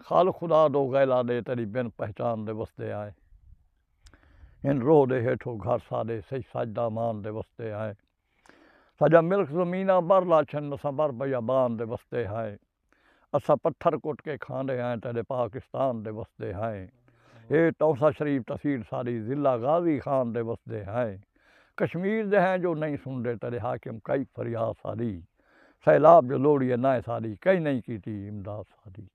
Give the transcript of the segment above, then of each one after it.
خال خدا دو غیلا دے تیڈی بن پہچان دے وسدے آئیں ہن روہ دے ہیٹھو گھر ساڈے سئی سج دا مان دے وسدے آئیں ساجا ملک زمیناں بر لا چھن اساں بر بیا بان دے وسدے آئیں اساں پتھر کٹ کے کھاندے آئیں تیڈے پاکستان دے وسدے آئیں اے تونسہ شریف تحصیل ساڈی ضلع غازی خان دے وسدے آئیں کشمیر دے ہیں جو نئیں سندے تیڈے حاکم کئی فریاد ساڈی سیلاب جو لوڑی اے نائیں سالی کئیں نئیں کیتی امداد سالی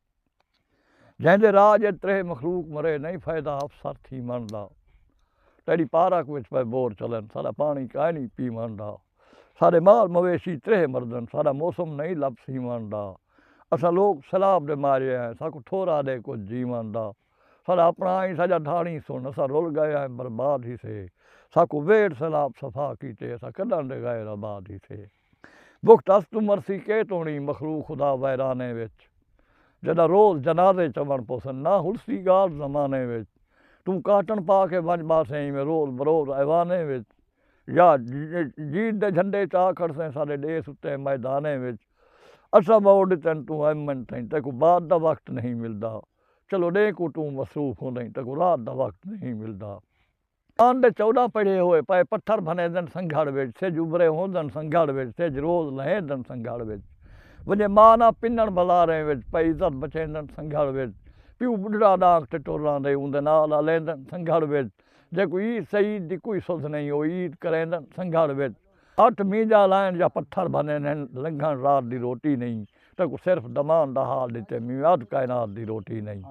جئیں دے راج اچ تریہہ مخلوق مرے نئیں فائدہ افسر تھیوݨ دا تیݙی پارک وچ پئے بور چلن ساݙا پاݨی کائنی پیوݨ دا ساݙے مال مویشی تریہہ مردن ساݙا موسم نئیں لب سیوݨ دا اساں لوک سیلاب دے مارے آئیں ساکوں تھورا ݙے کجھ جیوݨ دا ساݙا اپݨا آئیں ساڄا دھاݨی سݨ اساں رل ڳئے آئیں برباد ہیسے ساکوں ویڑھ سیلاب صفا کیتے اساں کݙاں دے غیر آباد ہیسے۔ بخت اس توں مرسی کے توڑیں مخلوق خدا ویرانے وچ جڈاں روز جنازے چوݨ پوسن نہ ہلسی ڳالھ زمانے وچ توں کاٹݨ پا کے ونڄ ٻاسیں ایویں روز بروز ایوانے وچ یا جیت دے جھنڈے چا کھڑسیں ساݙے ݙیس اتے میدانے وچ اساں ٻہوں ݙتن توں ایم این تھئیں تیکوں بعد دا وخت نہیں ملدا چلو ݙینہہ کوں توں مصروف ہوندئیں تیکوں رات دا وخت نہیں ملدا۔ آن دے چوݙاں پڑھے ہوئے پئے پتھر بھنیدن سنگھڑ وچ سجھ ابھرے ہوندن سنگھڑ وچ سجھ روز لہیندن سنگھڑ وچ ونڄے ماء ناں پنݨ بازاریں وچ پئے عزت بچیندن سنگھڑ وچ پیو ٻڈھڑا ݙانک تے ٹر آندے اوندے نال الیندن سنگھڑ وچ جیکوں عید سعید دی کوئی سدھ نئیں او عید کریندن سنگھڑ وچ۔ اٹھ مینجا لائن یا پتھر بھنن ہن لنگھن رات دی روٹی نئیں تیکوں صرف دمان دا حال ڈتے میں اد کائنات دی روٹی نئیں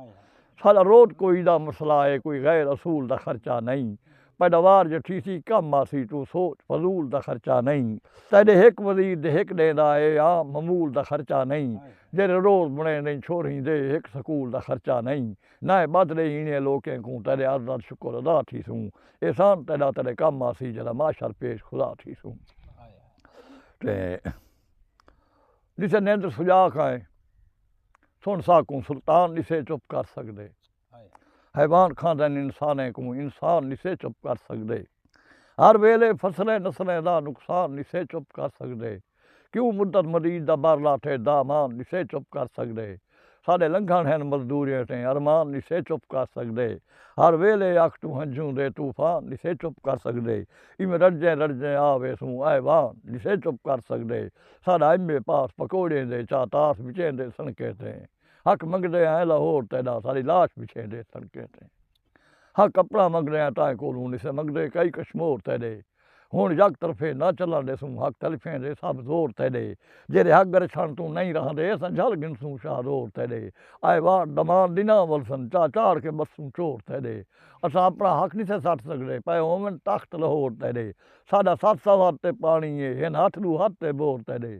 ساڈا روت کوئی دا مسئلہ اے کوئی غیر اصول دا خرچہ نئیں پیداوار جو تھیسی کم آسی توں سوچ فضول دا خرچہ نئیں تیڈے ہک وزیر دے ہک ڈیندا اے عام معمول دا خرچہ نئیں جیرے روز بنڑیندیں چھوہریں دے ہک سکول دا خرچہ نئیں۔ نہ اے ٻدھ ݙے ہیݨے لوکیں کوں تیݙے عرض دا شکر ادا تھیسوں احسان تیݙا تیݙے کم آسی جݙاں محشر پیش خدا تھیسوں تے ݙسے نندر سجاک آئیں سݨ ساکوں سلطان ݙسے چپ کر سڳدے حیوان کھاندن انسانیں کوں انسان ݙسے چپ کر سڳدے ہر ویلے فصلیں نسلیں دا نقصان ݙسے چپ کر سڳدے۔ کیوں مدت مدید دا بر لاٹھے دامان نسے چپ کر سگدے ساڈے لنگھن ہن مزدوریاں تے ارمان نسے چپ کر سگدے ہر ویلے اکھ توں ہنجھوں دے طوفان نسے چپ کر سگدے ایویں رڑجیں رڑجیں آ ویسوں ایوان نسے چپ کر سگدے ساڈا ایم اے پاس پکوڑیں دے چا تاس وچیندے سنکیں تے حق منگدے آئیں لاہور تیڈا ساڈی لاش وچھیندے سنکیں تے۔ ہا کپڑا منگڑیاں تائیں کولوں نسے منگدے کئی کشمور تیڈے ہن یک طرفے نہ چلن ڈیسوں حق تلفیں دے سب زور تیڈے جیڈے حق گرشن توں نئیں رہندے اساں جھل گھنسوں شاہ زور تیڈے آئے وار دمان ڈناں ولسن چا چاڑھ کے بسوں چور تیڈے اساں اپنا حق نسے سٹ سگدے پئے ہوون تخت لہور تیڈے ساڈا ست سوہر تے پانی اے ہن ہتھ ڈو ہتھ تے بور تیڈے۔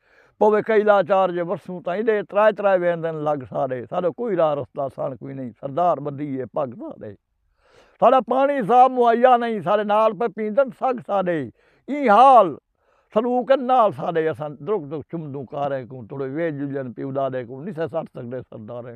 پوے کئی لاچار جے ورسوں تاں ایڈے ترائے ترائے ویندن لگ ساڈے ساڈو کوئی راہ رستہ سنڑ کوئی نئیں سردار بدھی اے پگ ساڈے ساڈا پانڑی صاف مہیا نئیں ساڈے نال پئے پیندن سگ ساڈے ایں حال سلوک نال ساڈے اساں درک درک چمدوں کاریں کوں توڑے ویج جلن پیو ڈاڈے کوں نسے سٹ سگڈے سرداریں